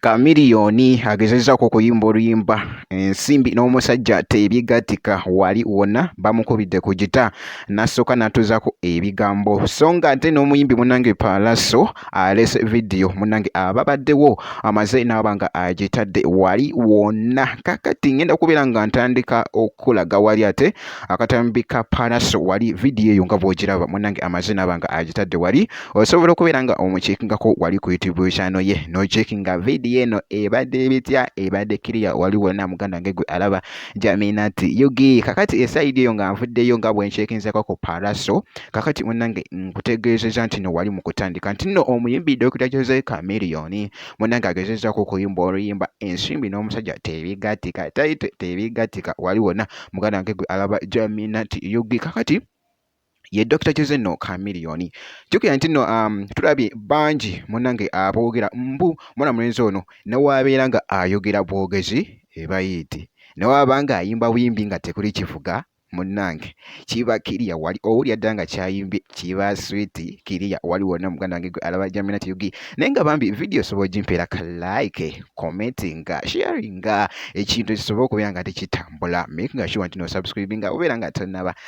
Chameleone agezezzaako okuyimba oluyimba ensimbi n'omusajja tebyegattika wali wonna bamukubidde ku gita n'asooka n'atuuzaako ebigambo so ng'ate n'omuyimbi munange Pallaso alese vidiyo munange ababaddewo amaze n'aba nga agitadde wali wonna kakati ngenda kubeera nga ntandika okulaga wali ate akatambi ka Pallaso wali vidiyo eyo nga bw'ogiraba munange amaze n'aba nga agitadde wali osobola okubeera nga omuceekingako wali ku youtube channel ye noceekinga vidiyo eno ebadde bitya ebadde kiriya wali wonna muganda wange gwe alaba jaminat yugi kakati esayidi eyo nga nvuddeyo nga bwenceekinzako ku paraso kakati munange nkutegeezeza nti no wali mu kutandika nti no omuyimbi dokita jose camiliyoni munange agezezaako okuyimba oluyimba ensimbi n'omusajja tebigatika taito tebigatika wali wonna muganda wange gwe alaba jaminat yugi kakati ye Dr. Jose no Chameleone. Jukira nti no um, tulabye bangi munange aboogera mbu mwana mulenzi ono newaabeera nga ayogera bwogezi ebayiiti newaaba nga ayimba buyimbi nga tekuli kivuga munange kiba kiriya wali owulira dda nga kyayimbye kiba switi kiriya wali wonna muganda wange gwe alaba jamina tiyugi naye nga bambi vidiyo osobola ogimpeera ka like commentinga sharinga ekintu kisobola okubeera nga tekitambula makinga sure nti nosubscribinga obeera nga tanaba